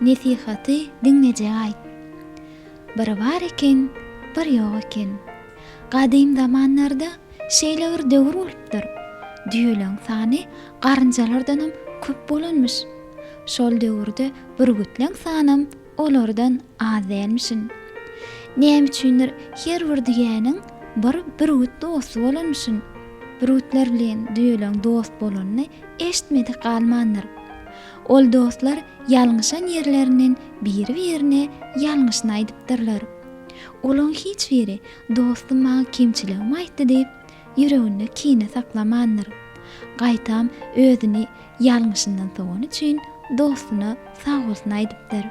Nesihaty diňleje aýt. Bir bar eken, bir ýok eken. Gadym zamanlarda şeýle bir döwür bolupdyr. Düýeleriň sany garynjalardanam köp bolanmyş. Şol döwürde bürgütleň sanam Olardan az dälmişin. Näme üçindir, her bir düýäniň bir bürgüt dosty bolanmyşyn. Bürgütler bilen düýeleň dost bolanyny eşitmedik galmandyr. Ol dostlar ýalňyşan ýerlerinden biri-birine ýalňyşyny aýdypdyrlar. Olaň hiç biri dostum maňa kemçiligimi aýtdy diýip, ýüreginde kine saklamandyr. Gaýtam özüni ýalňyşyndan sowany üçin dostuna sagbolsun aýdypdyr.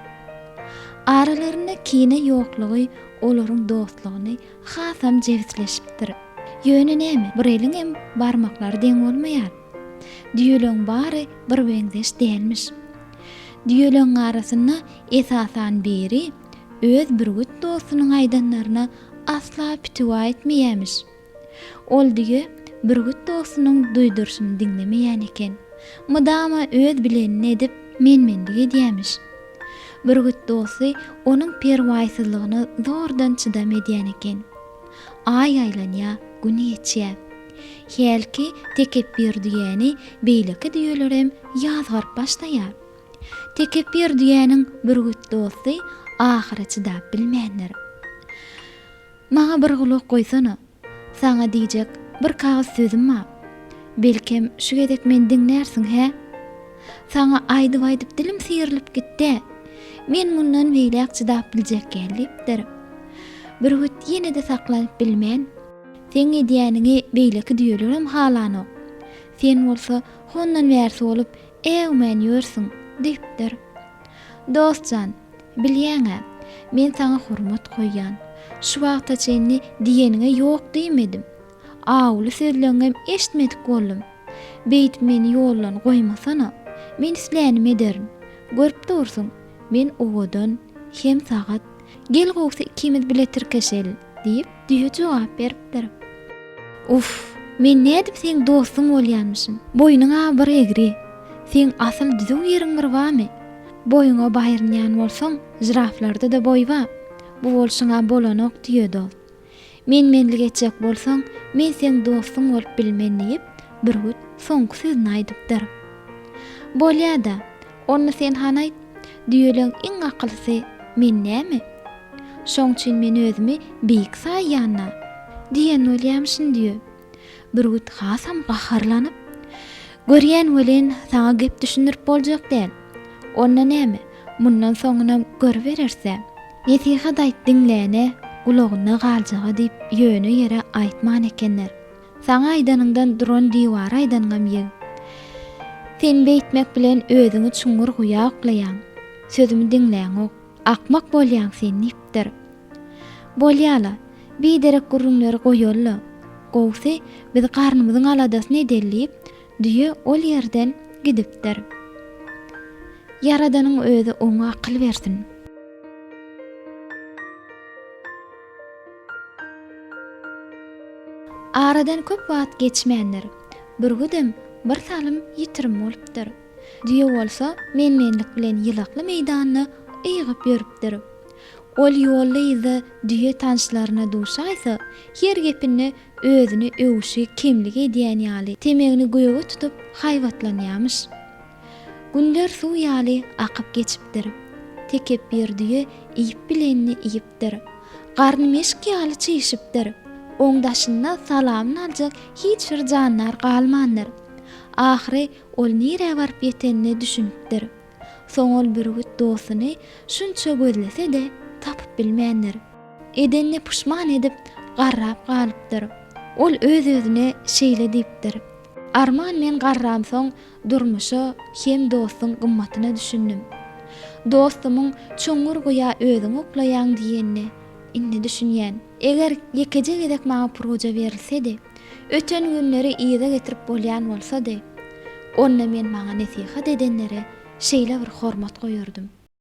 Aralarynda kine ýoklugy olaryň dostlugyny hasam jebisleşipdir. Ýöne näme, bir eliň hem barmaklary deň bolmaýar. Düýeleriň bary bir meňzeş dälmiş. Düýeleriň arasynda esasan biri öz bürgüt dostunyň aýdanlaryna asla pitiwa etmeýämiş. Ol düýe bürgüt dostunyň duýduryşyny diňlemeýän eken. Mydama öz bilenini edip, men-menlik edýämiş. Bürgüt dosty onuň perwaýsyzlygyna zordan çydam edýän eken. Aý aýlanýa, gün geçýä. Hälki tekepbir düýäni beýleki düýelerem ýazgaryp başlaýar. Tekepbir düýäniň bürgüt dosty ahyra çydap bilmändir. Maňa bir gulak goýsana. Saňa diýjek bir kagyz sözüm bar. Belkem, şu gezek meni diňlärsiň, hä? Saňa aýdyp-aýdyp dilim syýrylyp gitdi. Men mundan beýläk çydap biljek däl diýipdir. Bürgüt ýene-de saklanyp bilmän. Seň edýäniňi beýleki düýelerem halanok. Sen bolsa hondan bärsi bolup, Äwmän ýörsüň, diýipdir. Dost jan, bilýäň-ä, men saňa hormat goýýan. Şu wagta çenli diýeniňe ýok diýmedim. Awuly sözleňňem eşitmedik boldum. Beýdip meni ýoldan goýmasana. Men islänimi ederin. Görüp dursuň, men owadan, hem sagat. Gel gowsy ikimiz bile tirkeşeliň. Diýip, düýe jogap beripdir. Uff, men nädip seň dostuň bolýanmyşyn? Boýnuň-a bir egri. Seň asym düzüw ýeriň bir bamy? Boýuňa baýrynýan bolsaň, žiraflarda-da boý ba. Bu bolşuň-a bolanok, düýe dost. Men-menlik etjek bolsaň, men seň dostuň bolup bilmen diýip, bürgüt soňky sözüni aýdypdyr. Bolýa-da, Onda sen hany aýt, düýeleň iň akylsy men näme? Şoň üçin men özümi beýik saýýan-da. Diýen bolýamyşyn düýe. Bürgüt hasam gaharlanyp, Görýän welin, saňa gep düşündirip boljak däl. Onda näme, mundan soňunam görübereris-ä. Nesihat aýt diňläne, gulagyna galjag-a diýip ýöne ýere aýtman ekenler. Saňa aýdanyňdan duran diwara aýdanyňam ýeg. Sen beýtmek bilen özüňi çuňňur guýa oklaýaň. Sözümi diňläňok. Akmak bolýaň sen diýipdir. Bolýa-la, biderek gürrüňleri goýaly-la. Gowusy, biz garnymyzyň aladasyny edeli diýip, düýe ol ýerden gidipdir. Ýaradanyň özi oňa akyl bersin. Aradan köp wagt geçmändir. Bürgüdem bir salym ýitirim bolupdyr. Düýe bolsa men-menlik bilen ýylakly meýdanda yýgyp ýörüpdir. Ol ýolda-yzda düýe tanşlaryna duşaýsa, her gepinde özüni öwüşi kemlik edýän ýaly, temegini göge tutup haýbatlanýamyş. Günler suw ýaly akyp geçipdir. Tekepbir düýe iýip bilenini iýip, çişipdir. Garny meşik ýaly çişipdir. Oň daşynda salamyny aljak hiç bir jandar galmandyr. Ahyry ol nirä baryp ýetenine düşünipdir. Soň ol bürgüt dostuny şunça gözlese-de, tapyp bilmändir. Edenine puşman edip, garrap galypdyr. Ol öz-özüne şeýle diýipdir, Arman men garramsoň, Durmuşa hem dostuň gymmatyna düşündim. Dostumyň Çuňňur guýa özüň oklaýaň diýenine indi düşünýän. Eger ýekeje gezek maňa pruja berilsedi, öten günleri yza getirip bolýan bolsady, onda men maňa nesihat edenlere şeýle bir hormat goýardym.